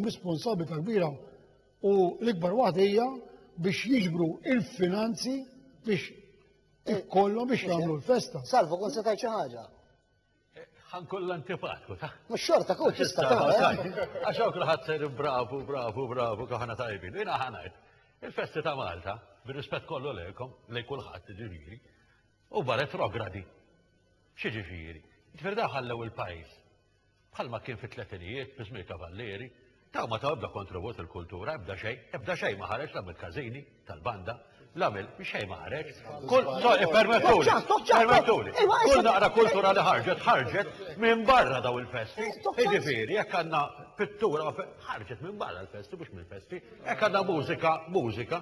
Responsabilità kbira u l-ikbar waħda hija biex jiġbru il-finanzi biex ikollhom biex jagħmlu l-festa. Salvu kont se tgħid xi ħaġa. Ħan kollha antipatku ta'. Mhux xorta kont tista' tagħmel. Għax hawn kulħadd ser bravu, bravu, bravu kaħna tajbin. Jiena ħanajt. Il-festi ta' Malta, bir-rispett kollu lejkom, lej kulħadd ġifieri, u barret rogradi. Xi ġifieri? Ġifieri daħallew il-pajjiż bħalma kien fit-tletinijiet fi żmien Cavalieri, dawn ma taw ebda kontribut lill-kultura, ebda xejn, ebda xejn ma ħareġ la mill-każini tal-banda, la mill xejn ma ħareġ. Kull permettuli, permettuli, kull naqra kultura li ħarġet, ħarġet minn barra daw il-festi. Jiġifieri jekk għandna pittura ħarġet minn barra l-festi mhux mill-festi, jekk għandna mużika, mużika,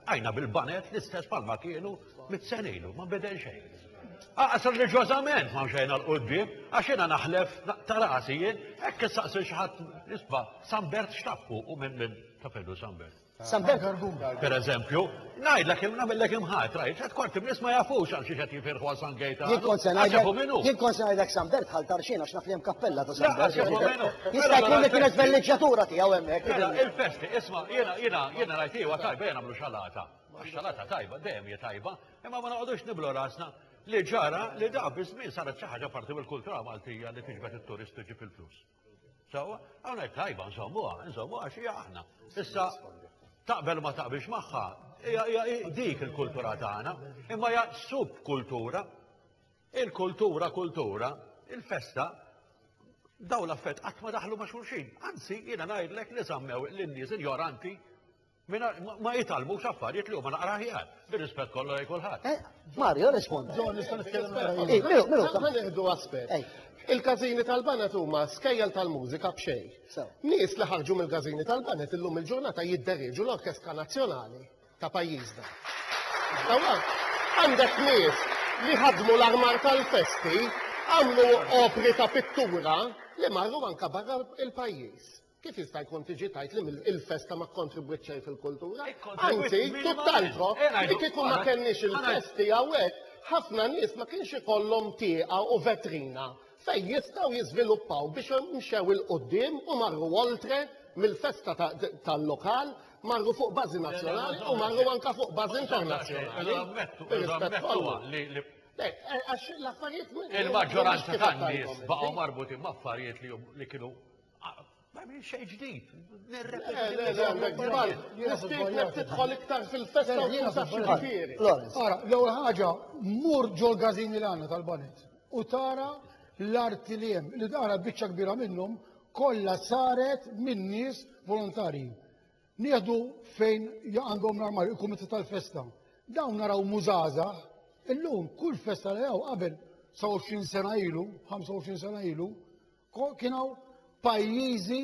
Għajna bil-banet l-istess palma kienu mit-sen ilu, ma bidel xejn. Aqas reġważament ma mxejna l-qoddim, għax jena naħlef ta' rasi jien, hekk issaqsi xi ħadd isba' Sambert x'taffu u minn minn tafellu Sambert. Sambert Per eżempju, ngħidlek nagħmellek imħat, rajt, qed kwarti nies ma jafux għal xi qed Jinkun se ngħidlek, jinkun se ngħidlek San Bert ħal Tarxien għax naf li hemm kappella ta' San Bert. Jista' jkun li kienet velliġġatura tiegħu hemmhekk. Mela, il-festi, isma' jiena jiena jiena ngħid iva tajba jiena nagħmlu xalata. Għax-xalata tajba, dejjem hija tajba, imma ma noqogħdux niblu rasna li ġara li da biż-żmien saret xi ħaġa parti mill-kultura Maltija li tiġbed it-turisti ġib il-flus. Sawa, għawnek tajba, nżommuha, nżommuha xie aħna. Issa, taqbel ma taqbilx maħħa, dik il-kultura tagħna, imma hija subkultura. Il-kultura, kultura, il-festa, daw l-affett qatt ma daħlu ma' xulxin. Anzi, jiena ngħidlek li żammew l-nies injoranti Mina ma jitalmu xaffariet li huma naqra ħjar, bir-rispett kollu lej kulħadd. Eh, Mario, rispondi. Ġon, nista' nitkellem eh, Minu, minu, ma nieħdu aspett. Eh. Il-każini tal-banet huma skejjel tal-mużika b'xejn. Nies li ħarġu mill-każini tal-banet illum il-ġurnata jiddereġu l-Orkestra Nazzjonali ta' pajjiżna. Għandek nies li ħadmu l-armar tal-festi, għamlu opri ta' pittura li marru anka barra il-pajjiż. Kif jista' jkun tiġi tgħid li il-festa ma kkontribwiet xejn fil-kultura? Anzi, tutt'altro, li kieku ma kenniex il-festi hawnhekk, ħafna nies ma kienx ikollhom tieqa u vetrina fejn jistgħu jiżviluppaw biex mxew 'il quddiem u marru oltre mill-festa tal-lokal, marru fuq bażi nazzjonali u marru anke fuq bażi internazzjonali. Il-maġġoranza tan-nies baqgħu marbutin ma' affarijiet li kienu Ma minn xej ġdid. Tidħol iktar fil-festa u tuża xifiri. Ara, l-ewwel ħaġa, mur ġol gazini l għandna tal-banet u tara l-arti li hemm li tara biċċa kbira minnhom kollha saret minn nies volontari. Nieħdu fejn għandhom l-armar il-kumitat tal-festa. Dawn naraw mużaza, illum kull festa li hawn qabel 27 sena ilu, 25 sena ilu, Kien hawn pajjiżi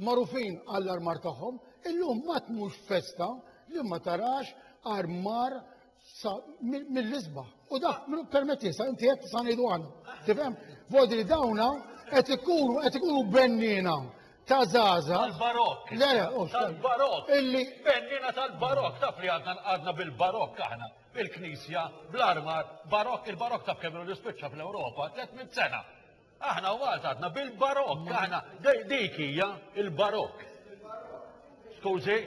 magħrufin għall-armar tagħhom, illum ma tmux festa li ma tarax armar mill-isbaħ. U dak minnu permetti sa inti qed sa ngħidu għandna. Tifhem? Vodi dawna qed ikunu qed ikunu bennina ta' zaza. Tal-barok. Le, oh, tal-barok. Illi. Bennina tal-barok, taf li għadna għadna bil-barok aħna. il-knisja bl-armar barok, il-barok ta' kemm ilu spiċċa fl-Ewropa, 300 sena. Aħna u Malta għadna bil-barok, aħna dik hija il-barok. Skużi?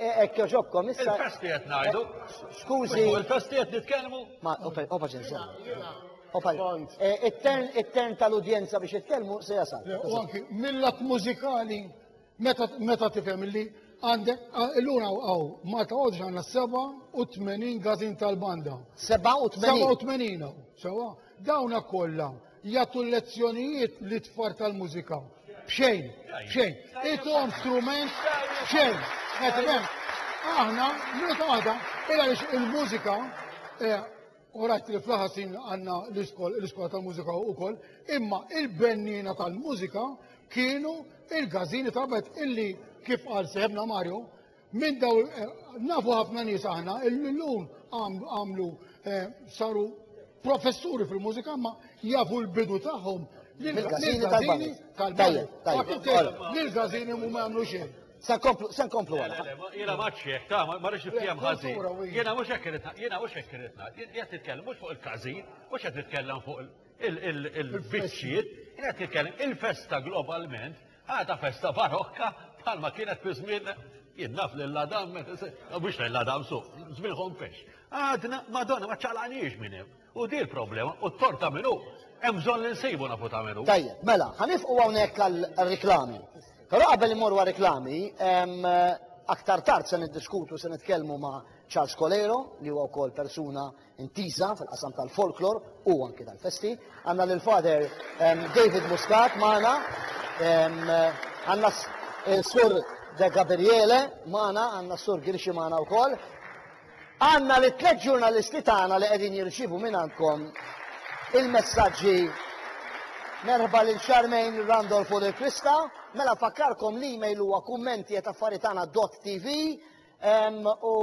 E, ekk joġobkom, issa. Il-festi qed ngħidu. Skużi. Il-festi qed nitkellmu. Ma, opa ġenża. Opa, e, it-tern tal-udjenza biex jitkellmu se jasal. U anki mill-att mużikali Meta meta tifhem illi għandek illum hawn Malta Għodġ għandna 87 gazin tal-banda. 87? 87 hawn, sewa. Dawna kollha jagħtu lezzjonijiet li tfar tal-mużika. Bxejn, bxejn. Ituhom strument bxejn. Qed Aħna, meta għada, il-mużika eh, u rajt li fl-ħasin għanna l-iskola tal-mużika u koll, imma il-bennina tal-mużika kienu il-gazini ta' bet illi kif għal seħbna Mario, minn daw eh, nafu ħafna nies aħna illum għamlu eh, saru professuri fil-mużika ma jafu l-bidu tagħhom l-gazini tal-bani. L-gazini mu għamlu xejn. Sa komplu, sa komplu għala. Jena maċċieħ, ta' ma rix nifjem ħazi. Jena mux ekkiritna, jena mux ekkiritna. Jena titkellem mux fuq il-kazi, mux jena titkellem fuq il-bicċiet, jena titkellem il-festa globalment, għada festa barokka, palma kienet fi żmien jinnaf l-ladam, mux l-ladam su, żmien ħompex. Għadna, madonna, ma ċalaniġ minnem. U din il-problema, u t-tort ta' min hu, hemm bżonn li nsibu nafu ta' min hu. Tajjeb, mela, ħa nifqu hawnhekk għar-riklami. Però qabel immorru għar-riklami, aktar tard se niddiskutu, se nitkellmu ma' Charles Coleiro, li huwa wkoll persuna intiża fil-qasam tal-folklor u anki tal-festi. Għandna lil Father David Muscat magħna, għandna s-Sur De Gabriele magħna, għandna s-Sur Girxi magħna wkoll. Għandna lit-tliet ġurnalisti tagħna li qegħdin jirċievu mingħandkom il-messaġġi. Merħba lil Charmaine Randolph u lil Krista. Mela nfakkarkom l-email huwa kummenti@affaritana.tv u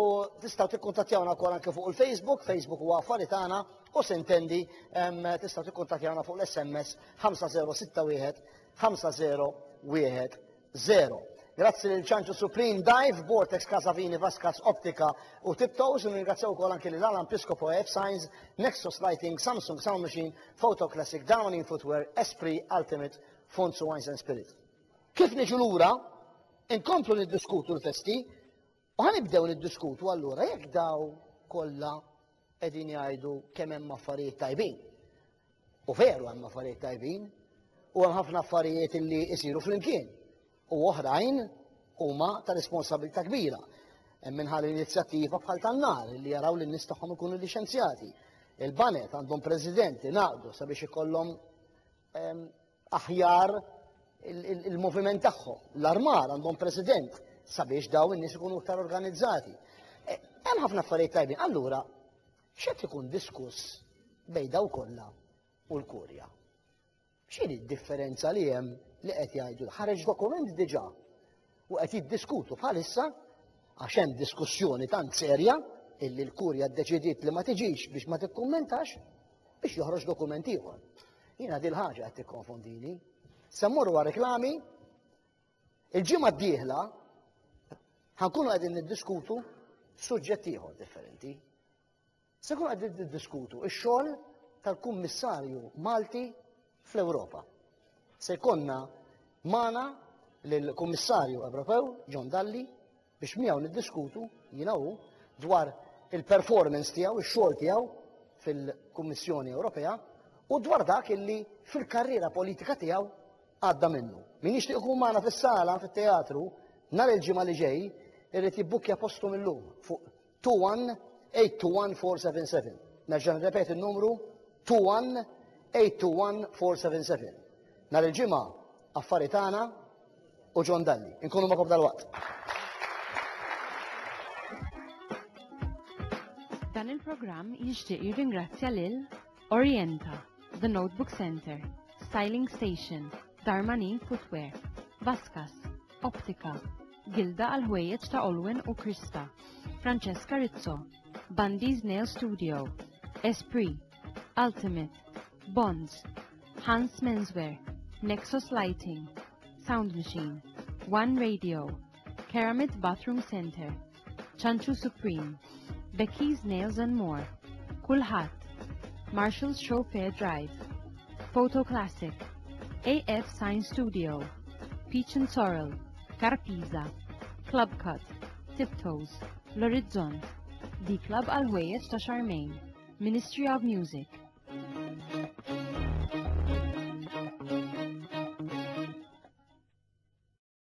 tistgħu tikkuntattjawna wkoll anke fuq il-Facebook, Facebook huwa Affari Tagħna u sintendi tistgħu tikkuntattjawna fuq l-SMS 5061 50 0. Grazzi lil Ċanċu Supreme Dive, Vortex Casavini Vascas Optika u Tiptoes u nirringrazzjaw ukoll anki lil Alan Piscopo F Signs, Nexus Lighting, Samsung Sound Machine, Photo Classic, Downing Footwear, Esprit, Ultimate, Fonts u Wines and Spirit. Kif niġu lura, inkomplu niddiskutu l-festi, U ħa nibdew niddiskutu allura jekk daw kollha qegħdin jgħidu kemm hemm affarijiet tajbin. U veru hemm affarijiet tajbin, u hemm ħafna affarijiet li jsiru flimkien. U oħrajn huma ta' responsabilità kbira. Hemm minħal inizjattiva bħal tan-nar li jaraw li n-nies tagħhom ikunu liċenzjati. Il-banet għandhom president li naqdu sabiex ikollhom ehm, aħjar il-moviment tagħhom. L-armar għandhom president sabiex daw in-nies ikunu iktar organizzati. E, hemm ħafna affarijiet tajbin. Allura, x'qed ikun diskuss bejn daw kollha u l-Kurja? X'inhi d-differenza li hemm li qed jgħidu? Ħareġ dokument diġà u qed jiddiskutu bħalissa għax hemm diskussjoni tant serja illi l-kurja ddeċidiet li ma tiġix biex ma tikkummentax biex joħroġ dokument ieħor. Jiena dil ħaġa qed tikkonfondini. Se mmorru għal reklami il-ġimgħa d-dieħla ħankunu qegħdin niddiskutu suġġett ieħor differenti. Se nkunu qegħdin niddiskutu x-xogħol tal-Kummissarju Malti fl-Ewropa. Se jkollna magħna lill-Kummissarju Ewropew John Dalli biex miegħu niddiskutu jiena hu dwar il-performance tiegħu, ix-xogħol tiegħu fil-Kummissjoni Ewropea u dwar dak illi fil-karriera politika tiegħu għadda minnu. Min jixtieq ikun magħna fis-sala fit-teatru nhar il-ġimgħa li ġej irrid jibbukkja postu mill-lum fuq 2182477. Nerġa' nirrepeti n-numru 2182477. Nhar il-Ġimgħa affari tagħna u John Dalli. Inkunu magħkom dal-waqt. Dan il-programm jixtieq jirringrazzja lil Orienta, The Notebook Center, Styling Station, Darmanin Footwear, Vaskas, Optika, Gilda għal ħwejjeġ ta' Olwen u Krista, Francesca Rizzo, Bundy's Nail Studio, Esprit, Ultimate, Bonds, Hans Menswear, Nexus Lighting, Sound Machine, One Radio, Keramit Bathroom Center, Chanchu Supreme, Becky's Nails and More, Kulħadd, Marshall's Show Fair Drive, Photo Classic, AF Sign Studio, Peach and Sorrel, Carpiza, Club Cut, Tiptoes, L-Orizzont, The Club għal ħwejjeġ ta' Charmaine, Ministry of Music.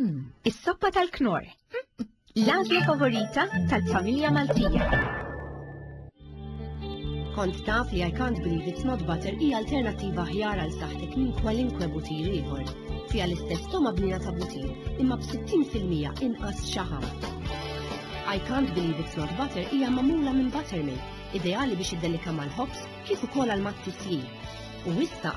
Hmm, is-soppa tal-knor. L-għażla favorita tal-familja Maltija. Kont taf li I can't believe it's not butter hija alternattiva ħjar għal saħtek minn kwalinkwe butir ieħor. Fiha l-istess toma bnina ta' butir, imma b'60% inqas xaħam. I can't believe it's not butter hija mamula minn buttermilk ideali biex iddelikha mal-ħobż kif ukoll għall-mazzi sli, u issa